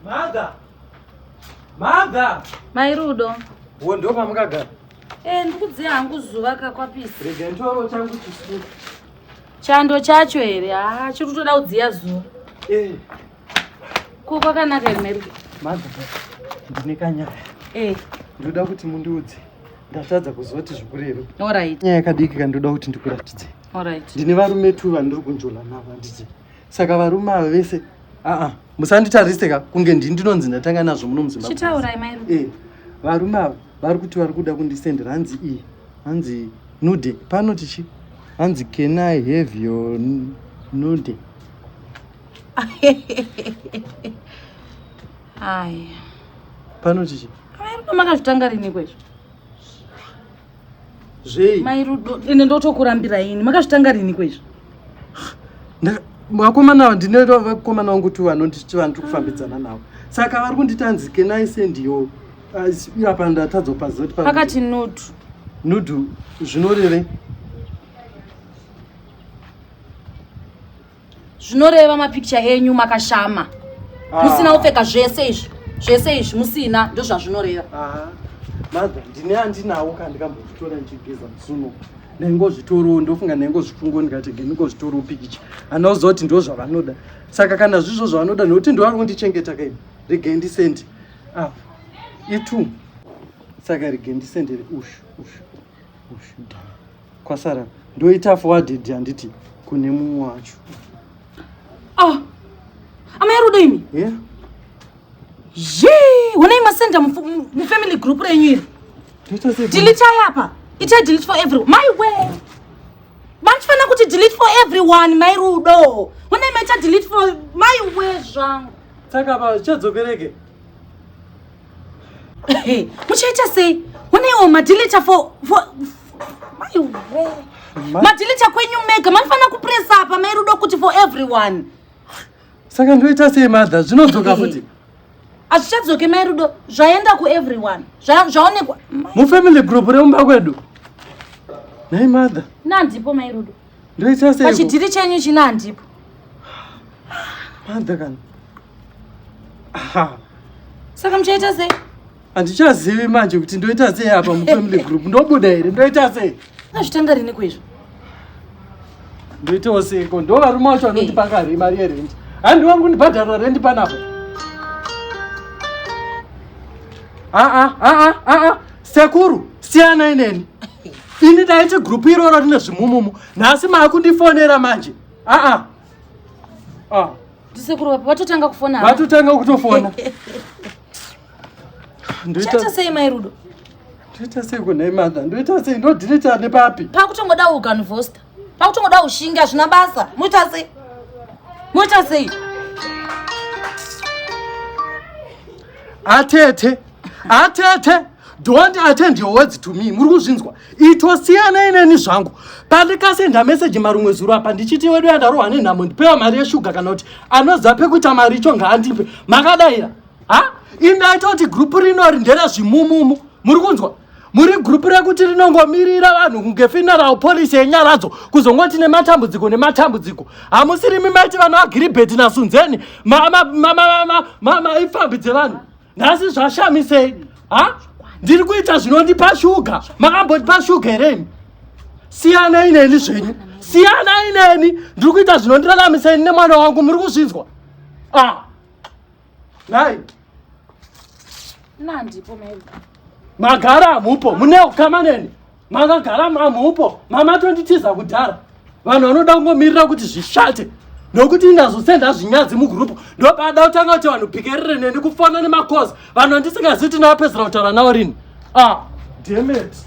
Maga. Maga. Mai Rudo. Wo ndo pamukagara. Eh ndikudze hangu zuva kakwapisa. Rega ntoro changu chisiku. Chando chacho here? Ah, chiri kutoda kudziya zuva. Eh. Ko kwakanaka here Mary? Maga. Ndine kanyaya. Eh. Ndoda kuti mundiudze. Ndatadza kuziva kuti zvikureve. All right. Nyaya yakadiki kandoda kuti ndikuratidze. All right. Ndine varume tu vandiri kunjola navo handiti. saka varume ava vese aa musanditarise ka kunge ndini ndinonzi ndatanga nazvo muno muzimbabwechitaurai mai rudo eh, varume ava vari kuti vari kuda kundisendera hanzi iyi hanzi nude pano tichi hanzi can i have your nude aya pano tichi mai rudo makazvitanga riniko izvo Zvei? Mai Rudo, ine ndotokurambira ini. Makazvitanga rini kwezvo? Vakomana ndine vakomana wangu tu vanonditi vanhu tikufambidzana navo. Saka vari kunditanzi can I send you? Apa ndatadza kupaza kuti pakati nudu. Nudu zvinorevei? zvinoreva mapikicha enyu makashama ah. musina kupfeka zvese izvi zvese izvi musina ndozvazvinoreva ah. madha ndine andinawo ka ndikambozvitora ndichigeza musuno ndaingozvitorawo ndofunga ndaingozvifungo ndikati ndingozvitorawo pikicha anoziva kuti ndo zvavanoda saka kana zvizvo zvavanoda nokuti ndo vari kundichengeta kaini regai ndisendi apa itu saka regai ndisendere ushu ushu ushu dhaa Kwasara ndoita forwarded handiti kune mumwe wacho. Ah! Amai Rudo imi? Yeah. Yee! Honai masenda mufamily group renyu iri. Ndoita sei? Delete apa. Ita delete for everyone. My way. Vanofana kuti delete for everyone, mai Rudo. Honai maita delete for my way zvangu. Saka apa zvichadzokereke? muchaita sei uneiwo madilita for madilita kwenyu mega maifanira kupresa apa mairudo kuti for everyone saka ndoita sei madha zvinodzoka futi hazvichadzoke mairudo zvaenda kueveryone zvaonekwa mufamily group remumba kwedu nhai madha nandipo mairudo Ndoita sei? Pachidhiri chenyu china handipo. Panda kana. Aha. Saka muchaita sei? Handichazivi manje kuti ndoita sei apa mu family group. Ndobuda here? Ndoita sei? Azvitanga rini kwezvo? Ndoitawo sei ko? Ndo varume wacho vanoti pakari mari ye rent. Handi wangu ndibhadhara rent panapo. Ah ah ah ah ah. Sekuru, siyanai neni. Ini ndaiti group iroro rine zvimumumu. Nhasi maakundifonera manje. Ah ah. Ah. Ndisekuru vapi vatotanga kufona. apa? Vatotanga kutofona. Ndoita Chaita sei mai Rudo? ndoita sei kunhai mother? Ndoita sei ndodirita nepapi? Pakutongoda uganvosta. Makutongoda ushinga zvina basa. Muita sei? Muita sei? Atete. Atete. Don't attend your words to me. Muri kuzvinzwa. Ito siyana ineni zvangu. Pandikasenda message marumwe zuro apa ndichiti wedu yandarohwa nenhamo ndipewa mari yeshuga kana kuti anoziva pekuita mari icho ngaandipe. Makadaira. Ha? Indaita kuti group rinori ndera zvimumumu. Muri kunzwa? muri group rekuti rinongomirira vanhu kunge funeral policy yenyaradzo kuzongoti nematambudziko nematambudziko hamusirimi maiti vanhu agiribheti nasunzeni maipfambi dzevanhu nhasi zvashamisei ha ndiri kuita zvinondipa shuga makambotipa shuga hereni siyanai neni zvenyu siyanai neni ndiri kuita zvinondiraramiseni nemwana wangu muri kuzvinzwa ah. nhai nandipo mai magara amupo mune ukama neni makagara mamupo mamatonditiza kudhara vanhu vanoda kungomirira kuti zvishate nokuti indazosenda zvinyadzi mugurupu ndopada kutanga kuti vanhu pikerere neni kufona nemakozi vanhu andisingazivi tinapedzera kutaura nawo rini ah demet